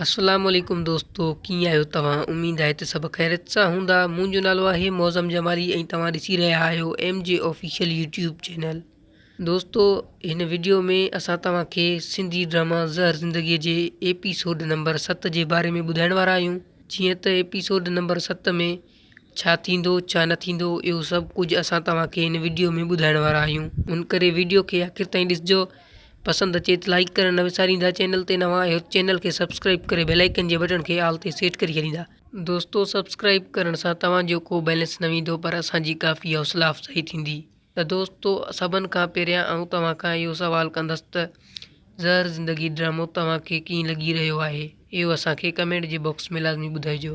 اسلام عليڪم دوستو ڪيئن آهيو توهان اميد آهي ته سڀ خيريت سان هوندا منهنجو نالو آهي معظم جمالي ۽ توهان ڏسي رهيا آهيو M G official YouTube channel دوستو هن وڊيو ۾ اسان توهان کي سنڌي ڊراما زهر زندگي جي ايپيسوڊ نمبر ست جي باري ۾ ٻڌائڻ وارا آهيون جيئن ته ايپيسوڊ نمبر ست ۾ ڇا ٿيندو ڇا نه ٿيندو اهو سڀ ڪجهه اسان توهان کي هن وڊيو ۾ ٻڌائڻ وارا آهيون ان ڪري وڊيو کي آخر تائين ڏسجو پسند اچي ته لائيڪ ڪرڻ نه وساريندا چينل تي نوان آهيو ته چينل کي سبسڪرائيب ڪري بيل آئيڪن جي بٽڻ کي آل تي سيٽ ڪري ڇڏيندا دوستو سبسڪرائيب ڪرڻ سان توهان جو ڪو بيلنس نه ويندو پر اسان جي ڪافي حوصلا افزائي ٿيندي. ته دوستو سڀن کان پهريان آئون توهان کان اهو سوال ڪندس ته زهر زندگي ڊرامو توهان کي ڪيئن لڳي رهيو آهي اهو اسان کي ڪمينٽ جي باڪس ۾ لازمي ٻڌائجو.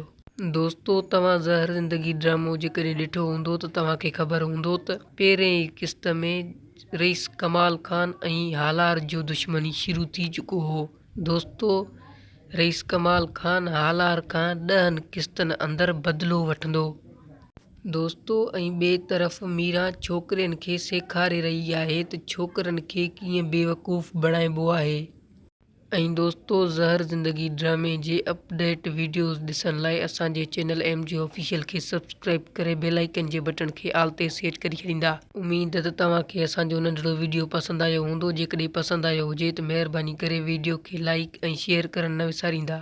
دوستو توهان زهر زندگي ڊرامو جيڪڏهن ڏٺو هوندو ته توهان کي خبر هوندو ته پهرين ئي قسط ۾ رئيس ڪمال خان ۽ هالار جو دشمني شروع ٿي چڪو هو دوستو رئيس ڪمال خان هالار کان ڏهن قسطن اندر بدلو وٺندو دوستو ۽ ٻئي طرف ميران ڇوڪرين کي سيکاري رهي آهي ته ڇوڪرن کي ڪيئن بيوقوف بڻائبو آهي. ۽ دوستو زهر زندگي ڊرامي جي اپ ڊيٽ ويڊيوز ڏسڻ لاء اسان جي چينل ايم جي آفيشل کي سبسڪرائب ڪري بيل آئيڪن جي بٽڻ کي آل تي سيٽ ڪري ڇڏيندا. اميد ته توهان کي اسان جو ننڍڙو ويڊيو پسند آيو هوندو جيڪڏهن پسند آيو هجي ته مهرباني ڪري ويڊيو کي لائيڪ ۽ شيئر ڪرڻ نه وساريندا.